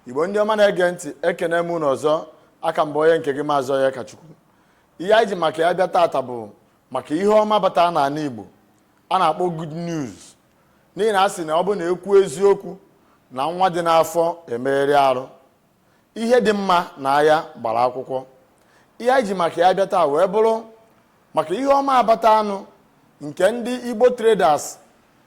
igbo ndị ọma na-ege ntị ekene m unu ọzọ aka m bụ onye nke gị maazị onyekachukwu ihe anyị ji maka ya bịa taata bụ maka ihe ọma bata n'ana igbo a na-akpọ good news n'ihi na a sị na ọ bụ na ekwu eziokwu na nwa dị n'afọ emegharịa arụ ihe dị mma n'anya gbara akwụkwọ ihe anyị ji maka ya bịa taa wee bụrụ maka ihe ọma a bataanụ nke ndị igbo traders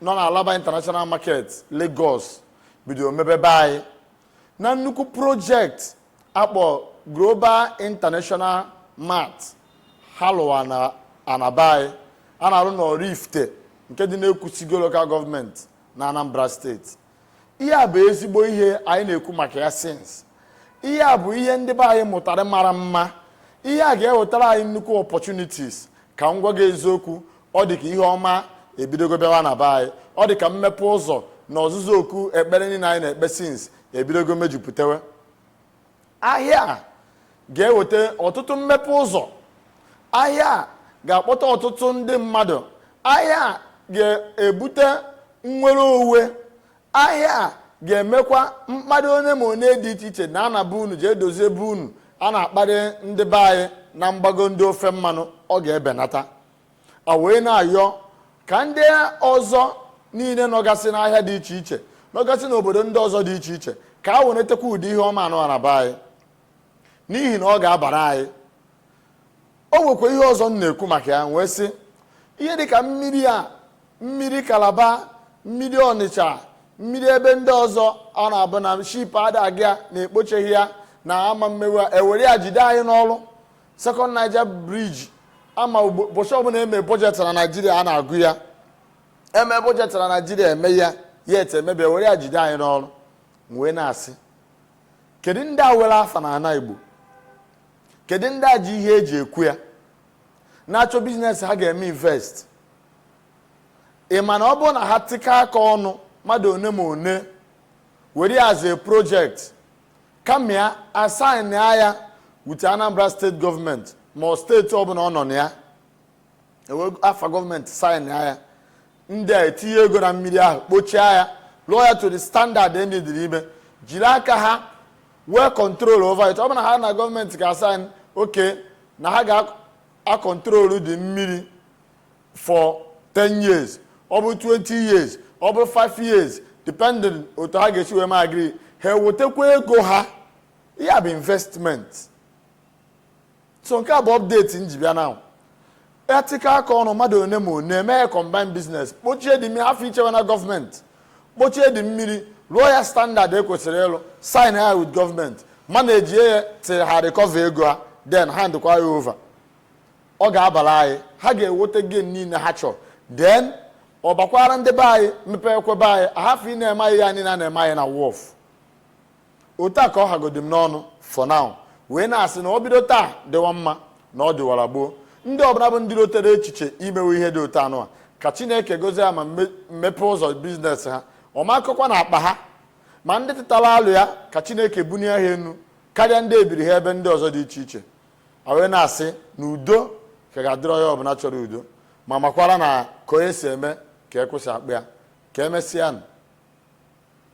nọ na alaba international market lagos bidoro mebe be anyị na nnukwu project a kpọ global international mart ha lụwa na ana be anyị a na-arụ na oraifite nke dị n'ekwusigo local government na anambra steeti ihe a bụ ezigbo ihe anyị na-ekwu maka ya since ihe a bụ ihe ndị be anyị mụtara mara mma ihe a ga-ewetara anyị nnukwu opportunities ka m gwa gị eziokwu ọ dị ka ihe ọma ebidogo bịawa na be anyị ọ dị ka mmepe ụzọ na ozuzu oke ekpere niile anyị na-ekpe since ebidogo mejupụtawa ahịa a ga-eweta ọtụtụ mmepe ụzọ ahịa a ga-akpọta ọtụtụ ndị mmadụ ahịa a ga-ebute nnwere onwe ahịa a ga-emekwa mkparị one ma one dị iche iche na a na-abụ unu jee dozie be unu a na-akparị ndị be anyị na mgbago ndị ofe mmanụ ọ ga-ebenata a wee na-ayọ ka ndị ọzọ niile nọgasị n'ahịa dị iche iche nọgasị n'obodo ndị ọzọ dị iche iche ka ha wenatakwa ụdị ihe ọma a nụwa ana be anyị n'ihi na ọ ga-abara anyị o nwekwa ihe ọzọ m na-ekwu maka ya wee sị ihe dịka mmiri a mmiri kalaba mmiri ọnịcha mmiri ebe ndị ọzọ ọ na-abụ na ship ada aga na ekpocheghị ya na a ma emewe ya ewere ya jide anyị n'olu Second Niger Bridge ama ụbọchị ọbụla eme budget na Naịjirịa a na-agụ ya eme budget na Naịjirịa eme ya yet emebe ya were ya jide anyị n'olu wee na-asị kedu ndị a nwere afa na ana Igbo kedu ndị a ji ihe eji ekwu ya na-achọ business ha ga-eme invest ị ma na ọ bụrụ na ha tikọọ aka ọnụ mmadụ one ma one were ya as a project ka e mee ya a sign ya with anambra state government ma ọ state ọbụla ọ nọ na ya ewere afa government sign ya ndị a etinye ego na mmiri ahụ kpochaa ya lụọ ya to the standard ndị dịrị ime jiri aka ha wee control over it ọ bụrụ ha na government ga-asign okay na ha ga-akọntrolu the mmiri for 10 years ọ bụ 20 years ọ bụ 5 years depending otu ha ga-esi wee ma agree ha ewetakwa ego ha ya bụ investment so nke a bụ update m ji bịa na e tikọọ aka ọnụ mmadụ one ma one mee combined business kpochie dị mmiri hafụ ichewe na gọọmenti kpochie dị mmiri rụọ ya standard e kwesịrị ịlụ sign ya with gọọmenti manage ya till ha recover ego ha then hand kwa ya over ọ ga-abara anyị ha ga-enweta gain niile ha chọrọ then ọ bakwaara ndị be anyị mepekwa be anyị a hafụ ịna-eme anyị ihe niile a na-eme anyị na wharf otu a ka ọ hagodi m n'ọnụ for now wee na-asị na ọ bido taa dịwa mma na ọ dịwara gboo ndị ọbụla bụ ndị rotere echiche imewe ihe dị otu anụ a ka chineke gozie ya ma mepee ụzọ business ha ọmakọkwa na akpa ha ma ndị tụtara alo ya ka chineke bunie ha enu karịa ndị ebiri ha ebe ndị ọzọ dị iche iche a wee na-asị na udo ka ga-adịrị onye ọbụla chọrọ udo ma makwara na ka onye si eme ka e kwesị akpọ ya ka emesịa nụ